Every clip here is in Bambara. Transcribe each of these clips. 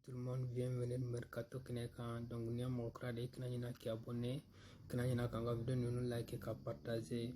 Tout le monde bienvenue Mercato Kɛnɛ kan donc n'i ye mɔgɔ kura de ye kana ɲina k'i abonné kana ɲina k'an ka video ninnu like ka partager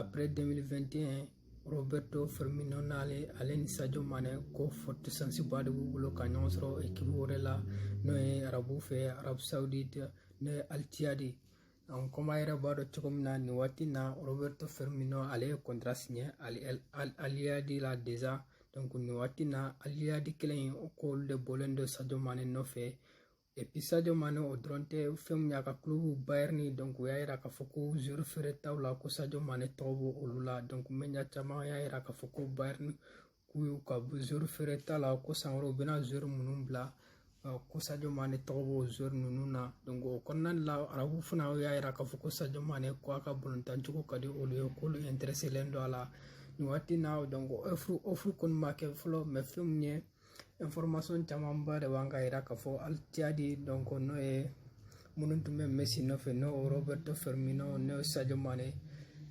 après 2021 Roberto Firmino n'ale ale ni Sadio Mane ko forte chanceba de b'u bolo ka ɲɔgɔn sɔrɔ ekipu wɛrɛ la n'o ye arabu fɛ Arabie Saoudite n'o ye Al Ittihad comme aw yɛrɛ b'a dɔn cogo min na nin waati na roberto fermino ale ye kɔntara siɲɛ al ittihad la déjà donc nin waati na al ittihad kelen in ko k'olu de bɔlen don sadio mane nɔfɛ et puis sadio mane o dɔrɔn tɛ fɛn min y'a ka kulobu bayern donc u y'a yira k'a fɔ ko joueur feeretaw la ko sadio mane tɔgɔ b'o olu la donc média caman y'a yira k'a fɔ ko bayern k'u y'u ka joueur feereta la ko san wɛrɛ u bɛna joueur minnu bila ko sadio mane tɔgɔ b'o joueur ninnu na o kɔnɔna la arabu fana y'a yira k'a fɔ ko sadio mane ko a ka balontancogo ka di olu ye k'olu intéressélen don a la nin waati in na offre kɔni ma kɛ fɔlɔ mais fɛn min ye information camanba de b'an ka yira k'a fɔ al ittihad n'o ye minnu tun bɛ mesi nɔfɛ n'o roberto fermino n'o sadio mane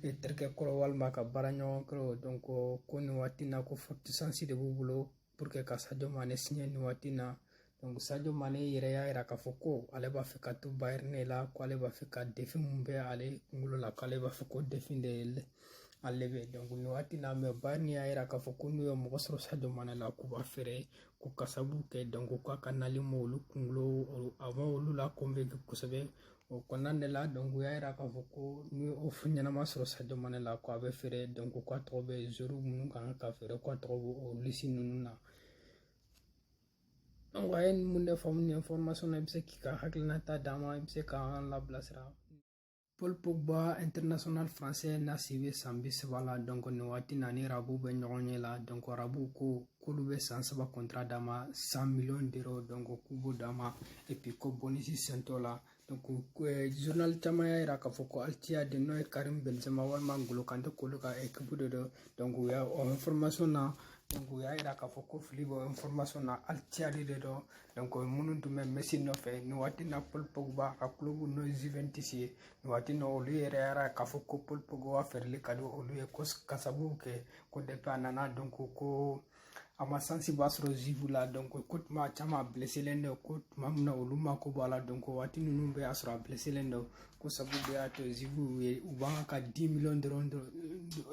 e terikɛ kɔrɔ walima ka baara ɲɔgɔn kɔrɔ donc ko nin waati na ko forte chance de b'u bolo pour que ka sadio mane siɲɛ nin waati na donc sadio mane yɛrɛ y'a yira k'a fɔ ko ale b'a fɛ ka to bayern la ko ale b'a fɛ ka defi min bɛ ale kunkolo la k'ale b'a fɛ k'o defi relever donc nin waati na mais bayern y'a yira k'a fɔ ko n'u ye mɔgɔ sɔrɔ sadio mane la k'u b'a feere ko ka sabu kɛ donc ko a ka nali ma olu kunkolo a ma olu la convaincre kosɛbɛ o kɔnɔna de la donc u y'a yira k'a fɔ ko ni offre ɲɛnama sɔrɔ sadio mane la ko a bɛ feere donc ko a tɔgɔ bɛ joueur minnu ka kan ka feere ko a tɔgɔ b'o liste ninnu na donc aw ye nin mun de faamu nin information na i bɛ se k'i ka hakilina ta d'an ma i bɛ se k'an labilasira Paul Pogba international français n'a si bɛ san bi saba la donc nin waati na ni arabu bɛ ɲɔgɔn ɲɛ la donc arabu ko k'olu bɛ san saba contrat d'a ma cent millions d'euros donc k'u b'o d'a ma et puis ko bonus sen t'o la donc eh, journal caman y'a yira k'a fɔ ko Al Ittihad n'o ye karim benzema walima ngolo kante k'olu ka ekipu de don donc u y'a o information na donc u y'a yira k'a fɔ ko fili bɛ information na Al Ittihad de don donc minnu tun bɛ Messi nɔfɛ nin waati na Paul Pogba ka kulobu n'o ye Juventus ye nin waati na olu yɛrɛ y'a yira k'a fɔ ko Paul Pogba feereli ka di olu ye ko ka sababu kɛ ko depuis a nana donc ko a ma chanceba sɔrɔ Juve la donc ko tuma caman a bleselen don ko tuma min na olu mako b'a la donc waati ninnu bɛɛ y'a sɔrɔ a bleselen don k'o sababu bɛɛ y'a to Juve ye u b'an ka 10 millions dɔrɔn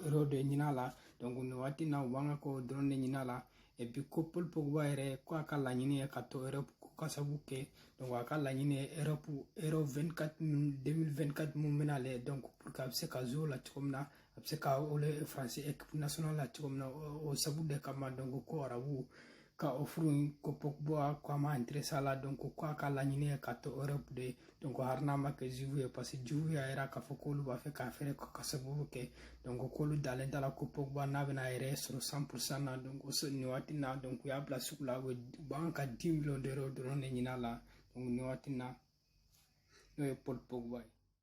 euro de ɲin'a la donc nin waati na u b'an ka o dɔrɔn de ɲin'a la epi ko paul pogba yɛrɛ ko a ka laɲini ye ka to europe ko ka sabu kɛ donc a ka laɲini ye europe euro 24 2024 mun bɛna lɛ donc pour que a bɛ se ka jouer o la cogo min na a bɛ se ka wele france équipe nationale la cogo min na o sabu de kama donc ko arabu ka offre in ko pogba ko a ma intéressé a la donc ko a ka laɲini ye ka to europe de donc hari n'a ma kɛ juve ye parce que juve y'a yira k'a fɔ k'olu b'a fɛ k'a feere ka sababu kɛ donc k'olu dalen t'a la ko pogba n'a bɛna a yɛrɛ sɔrɔ cent pourcent na donc nin waati na donc u y'a bila sugu la u bɛ ka dix million d'euro dɔrɔn de ɲin'a la donc nin waati na n'o ye paul pogba ye